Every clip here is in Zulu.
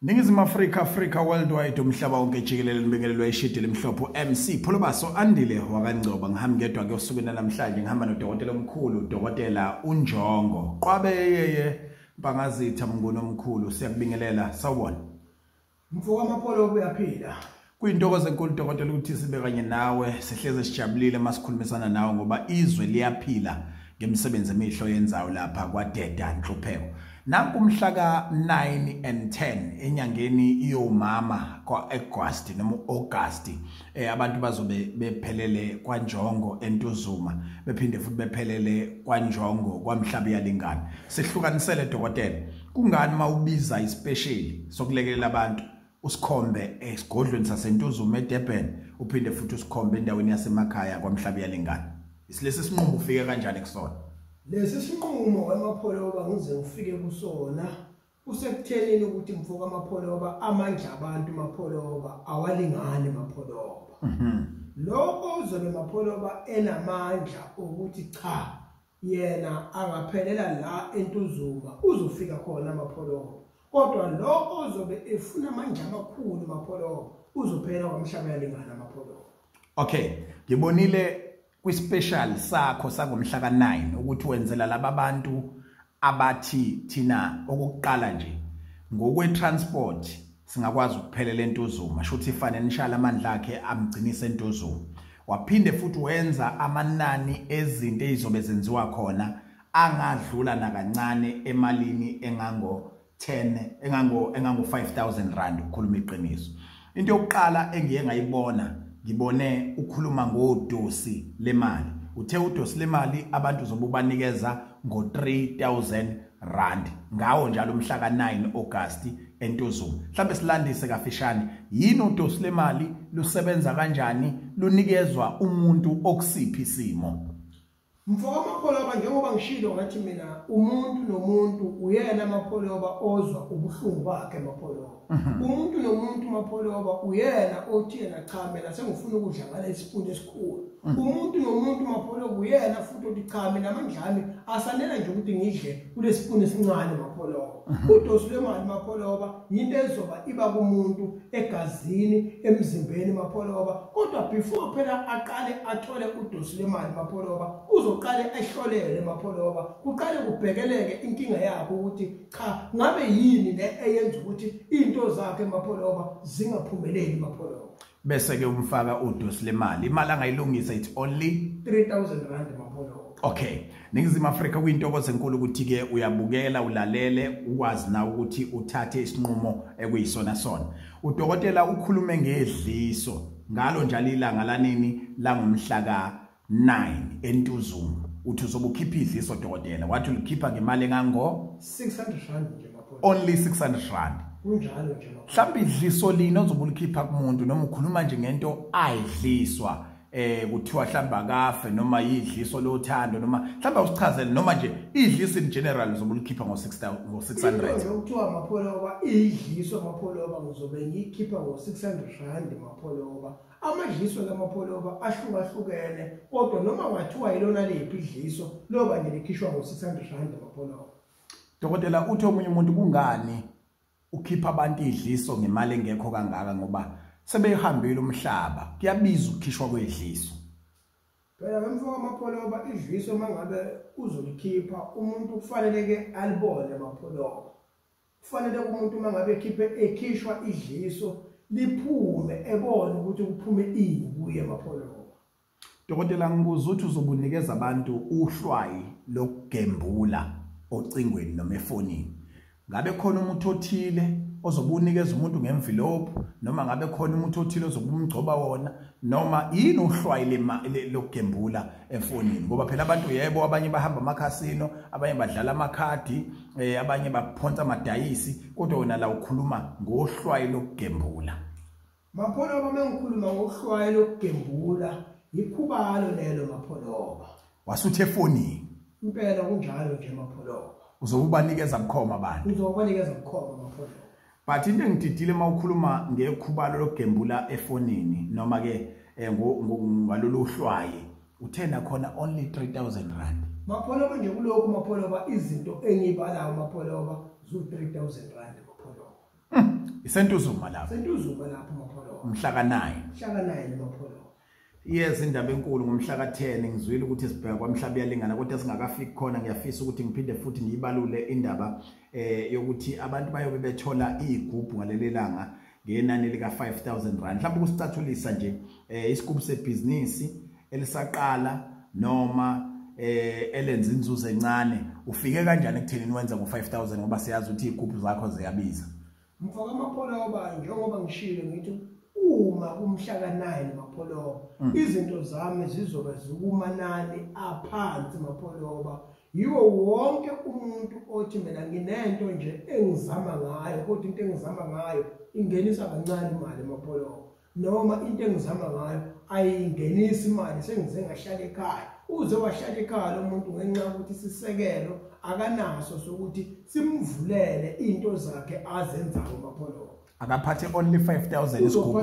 Ningizimu Afrika Africa worldwide umhlaba wonke jikelele libingelelwa ishidi limhlophe MC Pholobaso andile wakangcoba ngihamba ngedwa ke usuku namhlanje ngihamba nodokotela omkhulu dokotela uNjongo Qwabe yeye Mpangazitha mnguni omkhulu siyakubingelela sawubona Mfowamapholo uyaphila Kuyintokozo enkulu dokotela ukuthi sibe kanye nawe sihleze sijabulile masikhulumisana nawe ngoba izwe liyaphila ngemisebenzi emihlo yenzayo lapha kwadeda nhlupheko nanku umhlaka 9 and 10 enyangeni iyomama kwaAugust noma uAugust eh abantu bazobe bephelele kwanjongo entuzuma bephinde futhi bephelele kwanjongo kwamhlaba yalingana sihlukanisele dokotela kungani mawubiza ispecial sokulekelela abantu usikhombe esigodlweni saseNtuzuma eDurban uphinde futhi usikhombe endaweni yasemakhaya kwaMhlabi yalengane isilesi sinqumo ufike kanjani kusona lesi sinqumo wamapholoba ngize ngifike kusona kusekuthenini ukuthi mfoka amapholoba amandla abantu mapholoba awalingani mapholoba mhm. lokho uzobe mapholoba enamandla ukuthi cha yena angaphelela la entuzuma uzofika khona amapholoho kodwa lo ozobe efuna amandla amakhulu mapholoho uzophela kwamhlaba yalingana amapholoho okay ngibonile kwispecial sakho sangomhla ka9 ukuthi wenzela laba bantu abathi thina okuqala nje ngokwe transport singakwazi ukuphelela entuzuma shuthi financial amandla akhe amgcinise entuzuma waphinde futhi wenza amanani ezinto ezizobe zenziwa khona angadlula nakancane emalini engango 10 engango engango 5000 rand ukukhuluma iqiniso into yokuqala engiye ngayibona ngibone ukhuluma ngodosi lemali uthe udosi lemali abantu zobubanikeza ngo 3000 rand ngawo njalo umhla ka-9 Agasti eNtuzuma. Mhlambe silandise kafishane yini udosi lemali lusebenza kanjani lunikezwa umuntu okusiphi isimo. Mfoka Mapholoba njengoba ngishilo ngathi mina umuntu nomuntu uyena Mapholoba ozwa ubuhlungu bakhe Mapholoba. mhm. umuntu nomuntu mapholoba uyena othi yena cha mina sengifuna ukudla ngale isipuni esikhulu mhm. umuntu nomuntu mapholoba uyena futhi othi cha mina amandlami asanela nje ukuthi ngidle kulesipuni esincane mapholoba mhm. udosi lwemali mapholoba yinto ezoba iba kumuntu egazini emzimbeni mapholoba kodwa before phela aqale athole udosi lwemali mapholoba uzoqale ehlolele mapholoba kuqale kubhekeleke inkinga yakho ukuthi cha ngabe yini le eyenza ukuthi into zakhe emapholoba zingaphumeleli emapholoba bese ke umfaka udosi lemali imali angayilungisa it's only 3000 rand emapholoba okay ningizimu afrika kuyintokozo enkulu ukuthi-ke uyabukela ulalele ukwazi na ukuthi uthathe isinqumo ekuyisona sona udokotela ukhulume ngedliso ngalo njalo ilanga lanini langomhla ka 9 entuzuma uthi uzobukhipha idliso dokotela wathi ulikhipha ngemali engango 600 rand nje only 600 rand kunjalo nje mhlawumbe idliso lini ozobulikhipha kumuntu noma ukhuluma nje ngento ayidliswa eh kuthiwa mhlawumbe akafe noma yidliso lothando noma mhlawumbe usichazele noma nje idliso in general uzobulikhipha ngo 6000 ngo 600 ukuthiwa amapholoba idliso amapholoba ngizobe ngikhipha ngo 600 rand amapholoba Amadliso lamapholoba ahlukahlukene kodwa noma wathiwa yilona liphi idliso loba nje likhishwa ngo-600 rand amapholoba dokotela uthi omunye umuntu kungani ukhipha abantu idliso ngemali engekho kangaka ngoba sebeyihambile umhlaba kuyabiza ukukhishwa kwedliso phela bemfo amapholoba idliso mangabe uzolikhipha umuntu kufanele ke alibone amapholoba kufanele umuntu uma ngabe ekhiphe ekhishwa idliso liphume ebone ukuthi kuphume ini kuye emapholoba dokotela ngibuza ukuthi uzobunikeza abantu uhlwayi lokugembula ocingweni noma efonini ngabe khona umuntu othile ozobunikeza umuntu ngemvilophu noma ngabe khona umuntu othile ozobumgcoba wona noma yini uhlwayi lokugembula efonini ngoba phela abantu yebo abanye bahamba amakhasino abanye badlala amakhadi eh abanye baphonsa amadayisi kodwa wena la ukhuluma ngohlwayi lokugembula mapholoba mengikhuluma ngohlwayi lokugembula yikhubalo lelo mapholoba wasuthe efonini impela kunjalo nje mapholoba uzokubanikeza bukhoma abantu uzokubanikeza bukhoma mapholoba but into engididile uma ukhuluma ngekhubalo lokugembula efonini noma ke eh, ngalolu hlwaye uthena khona only 3000 rand mapholoba nje kulokhu mapholoba izinto engiyibalayo mapholoba zu 3000 rand mapholoba hmm, isentuzuma lapho sentuzuma lapho mapholoba umhlaka 9 mhlaka 9 mapholoba Yes indaba enkulu ngomhla ka-10 ngizwile ukuthi sibheka kwamhlaba iyalingana kodwa singakafiki khona ngiyafisa ukuthi ngiphinde futhi ngiyibalule indaba eh yokuthi abantu bayobe bethola igubhu ngaleli langa ngenani lika 5000 rand mhlawumbe ukusicathulisa nje eh isigubu sebhizinisi elisaqala noma eh elenza inzuzo encane ufike kanjani ekuthenini wenza ngo 5000 ngoba siyazi ukuthi igubhu zakho ziyabiza Mfaka amapholobayo njengoba ngishilo ngithi uma kumhla ka-9 mapholoba mm. izinto zami zizobe zikumanani aphansi mapholoba yiwo wonke umuntu othi mina nginento nje engizama ngayo kodwa into engizama ngayo ingenisa kancane imali mapholoba noma into engizama ngayo ayingenisi imali sengize ngahlala ekhaya uze wahlala ekhaya lo muntu ngenxa yokuthi sisekelo akanaso sokuthi simvulele into zakhe azenzayo mapholo akaphathe only 5000 isigubhu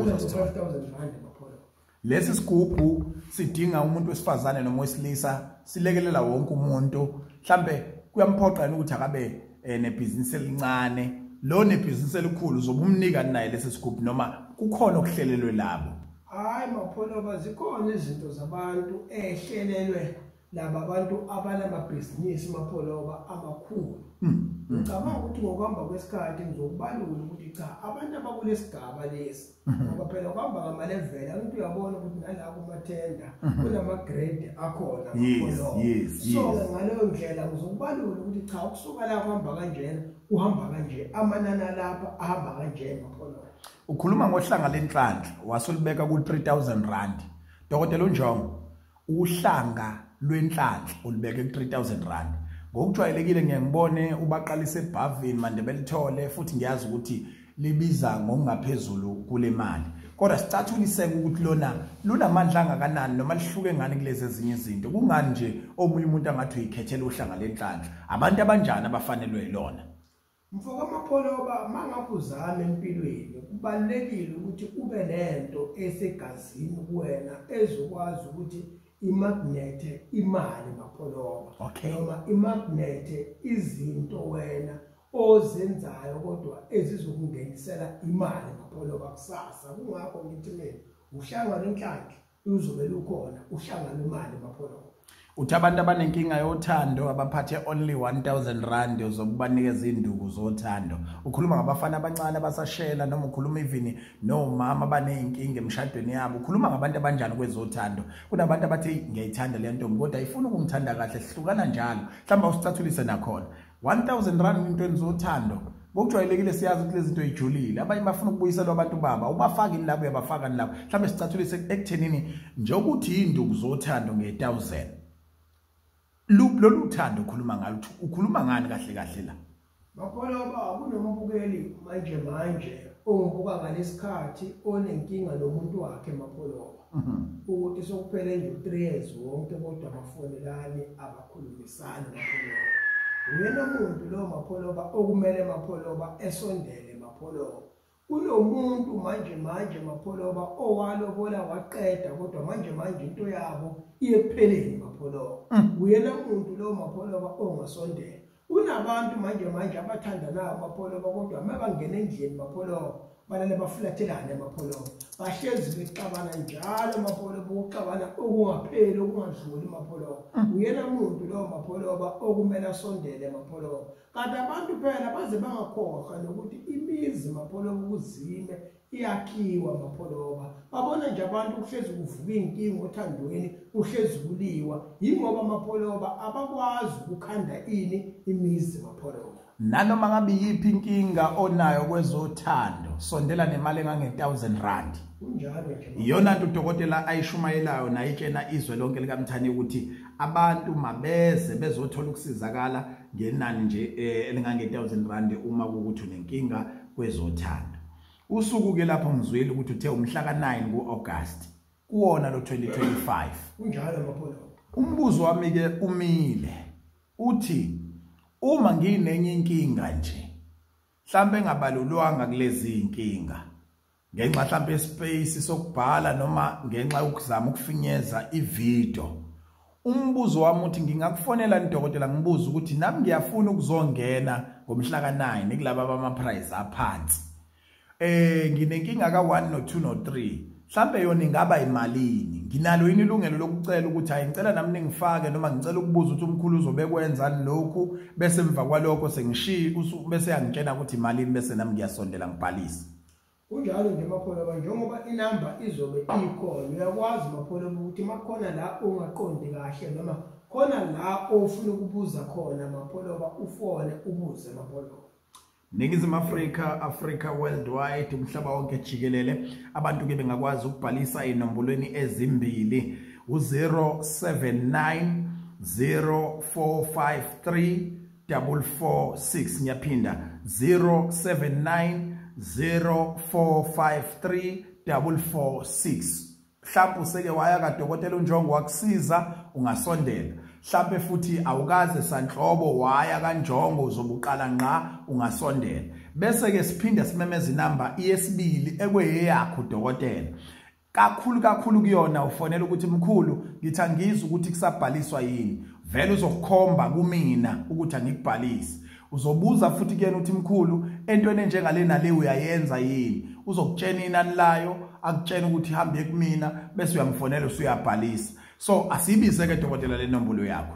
lesi sigubhu sidinga umuntu wesifazane noma wesilisa silekelela wonke umuntu mhlambe kuyamphoqa ukuthi akabe eh, nebhizinisi elincane lo nebhizinisi elikhulu zobumnika naye lesi sigubhu noma kukhona okuhlelelwe labo hayi mapholoba zikhona izinto zabantu ehlelelwe laba bantu abanamabhizinisi mapholoba amakhulu hmm. ngicabanga ukuthi ngokuhamba kwesikhathi ngizokubalula ukuthi cha abantu abakulesigaba lesi Mhm. ngoba phela kuhamba ngamalevela umuntu uyabona ukuthi nala kumathenda mhm. kunama-grade akhona so-ke ngaleyo ndlela ngizokubalula ukuthi cha ukusuka la kuhamba kanjena kuhamba kanje amanani alapha ahamba kanje mapholola ukhuluma ngohlanga lenhlanhla wasolibeka ku-3 000 rand dokotela unjongo Uhlanga lwenhlanhla ulibeke ku-3000 rand ngokujwayelekile ngiye ngibone ubaqalisa ebhavini mande belithole futhi ngiyazi ukuthi libiza ngokungaphezulu kule mali kodwa sicathuliseke ukuthi lona lunamandla angakanani noma lihluke ngani kulezi ezinye izinto kungani nje omunye umuntu angathi uyikhethela uhlanga lenhlanhla abantu abanjani abafanelwe yilona Mfokamapoloba mangabe uzama empilweni kubalekile ukuthi ube nento esegazini kuwena ezokwazi ukuthi imagnete imali mapoloba okay. noma imagnete izinto wena ozenzayo kodwa ezizokungenisela imali mapoloba kusasa kungakho ngithi mina uhlangana inhlanhla uzovele ukhona uhlangana imali mapholo uthi abantu abanenkinga yothando abaphathe only 1000 rand zokubanikeza induku zothando ukhuluma ngabafana abancane abasashela noma ukhuluma even nomama baneyinkinga emshadweni yabo ukhuluma ngabantu abanjani kwezothando kunabantu abathi ngiyayithanda le ntombi kodwa ayifuni ukungithanda kahle sihlukana njalo mhlawumbe usicathulise nakhona 1000 rand intweni zothando ngokujwayelekile siyazi ukuthi lezi zinto ijulile abanye bafuna ukubuyiselwa abantu baba ubafaka ini labo uyabafaka ni labo mhlawumbe sicathulise ekuthenini nje ukuthi yinduku zothando nge-1000 lolu thando ukhuluma ngalo ukhuluma ngani kahle kahle la bakhona uba kunombukeli manje manje ongibuka ngalesikhathi onenkinga nomuntu wakhe mapholoba ukuthi sokuphele nje u-3 years wonke kodwa bafonelani abakhulumisani mapholoba uyena muntu lowo mapholoba okumele mapholoba esondele mapholoba kunomuntu manje manje mapholoba owalobola waqeda kodwa manje manje into yabo iyekupheleni mapholoba mm. uyena muntu lowo mapholoba ongasondela kunabantu manje manje abathandanayo amapholoba kodwa uma bangena endlini mapholoba balale bafulathelane amapholoba bahlezi bexabana njalo amapholoba ukuxabana okungapheli okungadluli mapholoba mm. uyena muntu lowo mapholoba okumele asondele mapholoba kanti abantu phela baze bangakhohlwa nokuthi imizi mapholoba ukuzime iyakhiwa mapholoba babona nje abantu kuhlezi kuvuka iy'nkinga othandweni kuhlezi kuliwa yingoba amapholoba abakwazi ukukhanda ini imizi mapholoba nanoma ngabe yiphi inkinga onayo kwezothando sondela nemali engange-1000 rand iyona nto udokotela ayishumayelayo nayitshena izwe lonke likamthani ukuthi abantu mabeze bezothola ukusizakala ngenani nje eh, elingange-1000 rand uma kukuthi unenkinga kwezothando usuku ke lapho ngizwile ukuthi uthe umhla ka9 kuAugust kuona lo 2025 kunjalo maphondo umbuzo wami ke umile uthi uma nginenye inkinga nje mhlambe engabalulwanga kulezi inkinga ngenxa mhlawumbe yespace sokubhala noma ngenxa yokuzama ukufinyeza ivideo umbuzo wami uthi ngingakufonela nidokotela ngibuza ukuthi nami ngiyafuna ukuzongena ngomhla ka-9 kulaba bama-prize aphansi eh nginenkinga ka-1 no-2 no-3 mhlambe yona ingaba imalini nginalo yini ilungelo lokucela ukuthi hayi ngicela nami ningifake noma ngicela ukubuza ukuthi umkhulu uzobekwenzani lokhu bese emva kwalokho sengishiye bese yangitshena ukuthi imalini bese nami ngiyasondela ngibhalise kunjalo nje mapholo ba njengoba inamba izobe ikhona uyakwazi mapholo ukuthi makhona la ongaqondi kahle noma khona la ofuna ukubuza khona mapholo ba ufone ubuze mapholo Ningizimu Afrika, Africa worldwide, umhlaba wonke jikelele, abantu ke bengakwazi ukubhalisa inombolweni ezimbili u-079 0453 446 ngiyaphinda 079 0453 446 mhlawumbe useke waya kadokotela unjongo wakusiza ungasondela mhlawumbe futhi awukaze sanhlobo waya kanjongo uzobuqala ngqa ungasondela bese ke siphinde simemeza inamba yesibili ekweyeyakho dokotela kakhulu kakhulu kuyona ufonela ukuthi mkhulu ngithi angizwa ukuthi kusabhaliswa yini vele uzokukhomba kumina ukuthi angikubhalisi uzobuza futhi kuyena uthi mkhulu entweni enjengale nale uyayenza yini uzokutshena inani layo akutshena ukuthi hambe kumina bese uyamfonela usuyabhalisa so asibize ke dokotela lenombolo yakho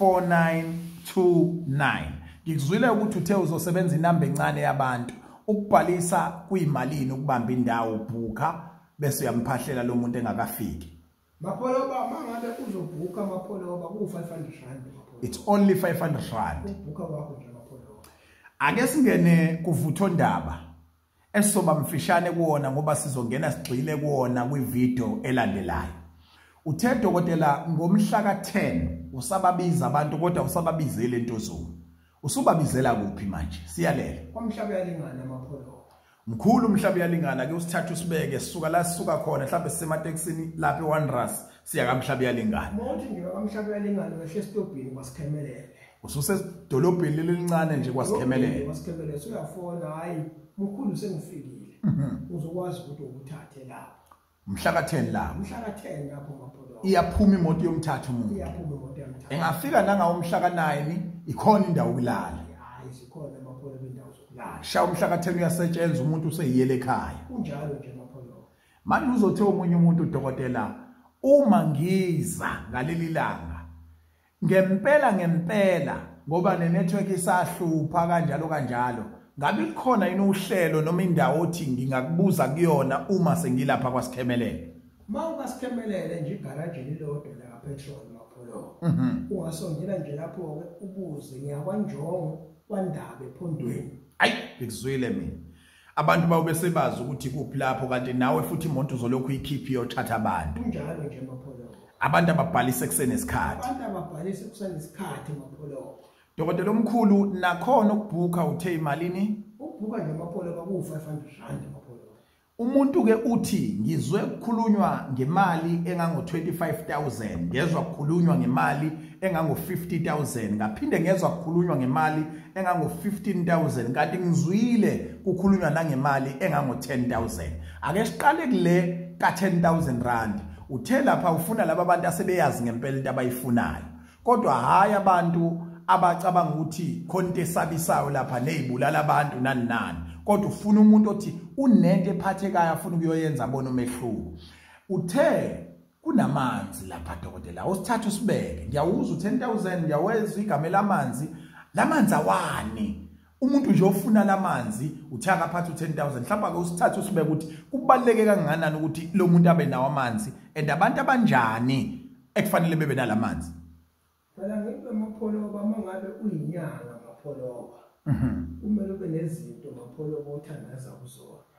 4929 ngikuzwile ukuthi uthe uzosebenza inamba encane yabantu ukubhalisa kuyimalini ukubamba indawo ubhuka bese uyamphahlela lo muntu engakafiki mapholoba uma ngabe uzobhuka mapholoba ku-500 rand it's only 500 rand ubhuka wakho nje mapholoba ake singene kuvuthondaba esoba mfishane kuwona ngoba sizongena sigxile kuwona kwivideo elandelayo uthe dokotela ngomhla ka-10 usababiza abantu kodwa usababizele entozulu usubabizela kuphi manje siyalele kwamhlaba uyalingana amapholo mkhulu umhlaba uyalingana ke usithatha usibeke sisuka la sisuka khona mhlawumbe sisematekisini lapha ewanderers siya kamhlaba uyalingana mawuthi ngiba kamhlaba uyalingana wehle esitobhini kwasikhemelele ususedolobheni leli lincane nje kwasikhemelele kwasikhemelele suyafona hayi mkhulu sengifikile mhm. uzokwazi ukuthi ukuthathe lapho mhla ka-10 lapho mhla ka-10 lapho maphodo iyaphuma imoto yomthatha umuntu iyaphuma imoto yomthatha engafika nangawo umhla ka-9 ikhona indawo ukulala hayi zikhona maphodo bendawo zokulala sha umhla ka-10 uyasetshenzwa umuntu useyiyele ekhaya kunjalo nje maphodo manje uzothe omunye umuntu udokotela uma ngiza ngaleli langa Ngempela ngempela ngoba nenetwork isahlupha kanjalo kanjalo ngabe likhona yini uhlelo noma indawo othi ngingakubuza kuyona uma sengilapha kwasikhemelele uma ungasikhemelele nje igaraji lilodwa la petrol mapholo mhm. ungasongela nje lapho ke ubuze ngiyakwanjongo kwandabe ephondweni ayi ngikuzwile mina abantu bawo besebazi ukuthi kuphi lapho kanti nawe futhi imonto uzolokhu ikhiphi yothatha abantu kunjalo nje mapholobo abantu ababhalise kusene isikhathi abantu ababhalise kusene isikhathi mapholobo dokotela omkhulu nakhona ukubhuka uthe imalini ukubhuka nje mapholobo ku 500 rand mapholobo umuntu ke uthi ngizwe kukhulunywa ngemali engango 25000 ngezwa kukhulunywa ngemali engango-50000 ngaphinde ngezwa kukhulunywa ngemali engango-15000 kanti ngizwile kukhulunywa nangemali engango-10000 ake siqale kule ka-10000 rand uthe lapha ufuna laba bantu asebeyazi ngempela into abayifunayo kodwa hhayi abantu abacabanga ukuthi khona into esabisayo lapha neyibulala abantu nani nani kodwa ufuna umuntu othi unento ephathekayo afuna ukuyoyenza abona umehluko uthe kunamanzi lapha dokotela awusithatha usibeke ngiyawuzwa 10000 ngiyawezwa igama lamanzi lamanzi awani umuntu nje ofuna lamanzi uthi akaphatha u10000 mhlawumbe ake usithathe usibeke ukuthi kubaleke kangakanani ukuthi lo muntu abe nawo amanzi and abantu abanjani ekufanele bebe nalamanzi phela ngibe mapholoba mangabe uyinyanga mapholoba mhm. kumele ube nezinto mapholoba othandaza kuzona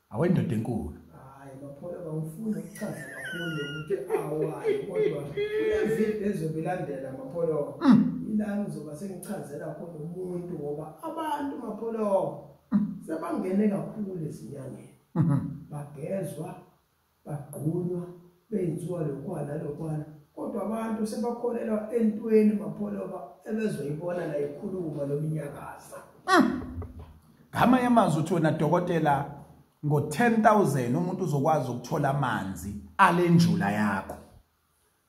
awendoda enkulu hayi baphola bawufuna ukuchaza kakhulu ukuthi awayi kodwa evini ezobe ilandela mapholoba mm. ilani uzoba sengichazela khona umuntu ngoba abantu mapholoba mm. sebangene kakhulu ezinyangeni mm-hmm. bagezwa bagqunywa benziwa lokwa nalokwana kodwa abantu sebakholelwa entweni mapholoba ebezoyibona la ikhuluma lominyakaza mm. ngama yamazwi uthi wena dokotela ngo-10000 umuntu uzokwazi ukuthola amanzi alenjula yakho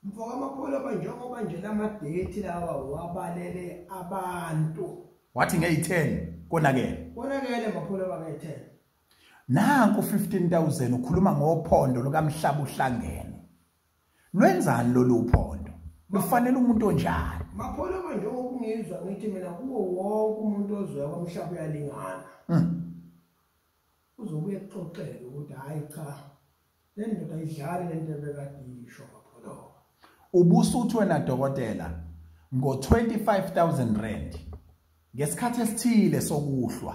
mfoka amapholoba njengoba nje la madethi lawa wabalele abantu wathi ngeyi-10 konakele konakele mapholoba ngeyi-10 nanku 15000 ukhuluma ngophondo lukamhlaba uhlangene lwenzani lolu phondo lufanele umuntu onjani makhona manje okungizwa ngithi mina kuwo wonke umuntu ozwe kwamhlaba uyalingana hmm. uzobuye kuxoxele ukuthi hayi cha le ndoda idlali le nto ebekadisho ngapholoka ubusuthi wena dokotela ngo-25 000 rand ngesikhathi esithile sokuhlwa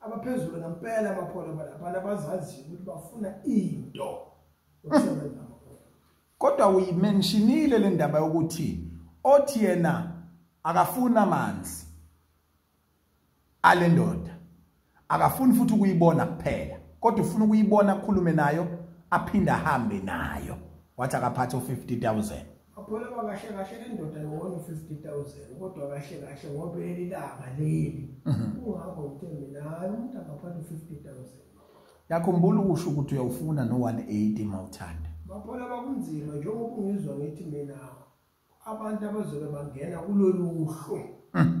abaphezulu ngempela amaphola abantu abazaziyo ukuthi bafuna into yokusebenza amaphola kodwa uyimentionile le ndaba yokuthi othi yena akafuni amanzi ale ndoda akafuni futhi ukuyibona kuphela kodwa ufuna ukuyibona akhulume nayo aphinde ahambe nayo wathi akaphathe u-50000 akholelwa kahle kahle le ndoda yona u-fifty thousand kodwa kahle kahle ngoba leli langa leli mhm. kungakho ngithe mina hayi umuntu angaphatha u-fifty thousand yakhumbula ukusho ukuthi uyawufuna no-one eighty ma uthanda baphola bakunzima njengoba ungizwa ngithi mina abantu abazobe bangena kulolu hlu mhm.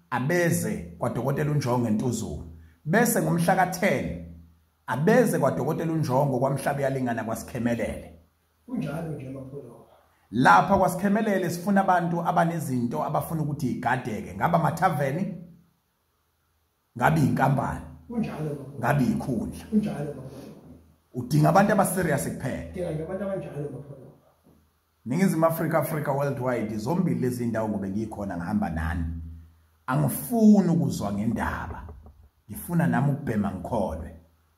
abeze kwaDokotela uNjongo eNtuzulu bese ngomhla ka-10 abeze kwaDokotela uNjongo kwaMhlaba uyalingana kwaSikhemelele kunjalo nje amapholo lapha kwaSikhemelele sifuna abantu abanezinto abafuna ukuthi igadeke ngaba mathaveni ngabe inkampani kunjalo ngabe ikhundla kunjalo udinga abantu abaserious kuphela udinga abantu abanjalo Ningizimu Afrika Afrika worldwide zombili lezi ndawo ngobe ngikhona ngihamba nani angifuni ukuzwa ngendaba ngifuna nami ukubhema ngikholwe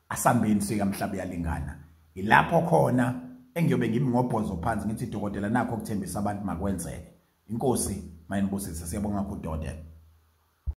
asambeni sika mhlaba yalingana ilapho khona engiyobe ngimi ngobhozo phansi ngithi dokotela nakho kuthembisa abantu makwenzeke inkosi mayinibusise siyabonga kakhulu dokotela